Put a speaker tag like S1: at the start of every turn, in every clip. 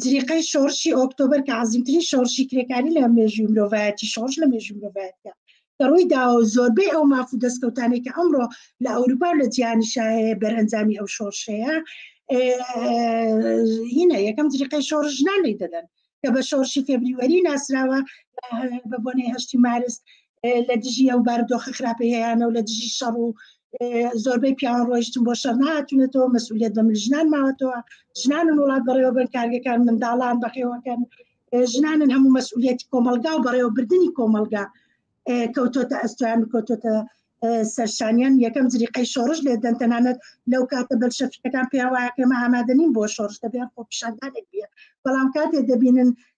S1: جریقەی شۆڕشی ئۆکتۆبر کە عزیمترین شۆڕشی کرێکاری لە مێژوی مرۆڤایەتی شۆڕش لە مێژوی مرۆڤایەتە کە ڕووی داوە زۆربەی ئەو ماف و دەستکەوتانی کە ئەمڕۆ لە ئەوروپا لە جیانی شاهەیە بەرەنجامی ئەو شۆڕشەیە هینە یەکەم جریقەی شۆڕش ژنان لی دەدەن کە بە شۆڕشی فێبریوەری ناسراوە بە بۆنەی هەشتی مارس لە دژی ئەو بارودۆخە خراپەیەیانە و لە دژی شەڕ و زۆربەی پیاوان ڕۆیشتن بۆ شەر نهاتونەتەوە مەسئولیت بەمل ژنان ماوەتەوە ژنانن وڵات بەڕێوەبەر کارگەکان منداڵان بەخێوەکەن ژنانن هەموو مەسئولەتی کۆمەلگا و بەڕێوەبردننی کۆمەلگا کەوتۆتە ئەستوان کەوتۆتە سەرشانیان یەکەم جریقەی شۆڕش لێ دەن تەنانەت لەو کاتە بەر شەفیەکان پێوایە کەمە ئامادەنین بۆ شۆڕش دەبێن خۆ پیشاندانێک بێ بەڵام کاتێ دەبینن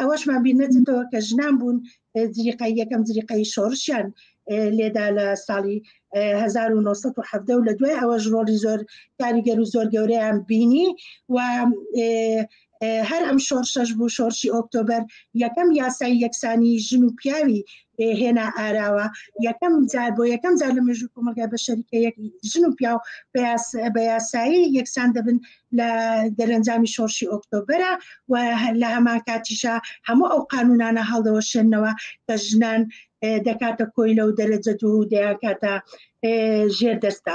S1: ئەوەشمان بینەتەوە کە ژنان بوون جریقای یەکەم جریقای شۆرشیان لێدا لە ساڵی 1970 لە دوای ئەوەش ڕۆلی زۆر کاریگەر و زۆر گەورەیان بینی و هەر ئەم شۆرشەش بوو شۆرشی ئۆکتۆبەر یەکەم یاسای یەکسانی ژن و پیاوی هێنا ئاراوە یەکەم جار بۆ یەکەم جار لە مێژوو کۆمەلگای بە شەریکە ژن و پیاو بە یاسایی یەکسان دەبن لە دەرەنجامی شۆڕشی ئۆکتۆبرە و لە هەمان کاتیشە هەموو ئەو قانونانە هەڵدەوەشێنەوە کە ژنان دەکاتە کۆیلە و دەرەجە دوو دەیانکاتە ژێر دەستا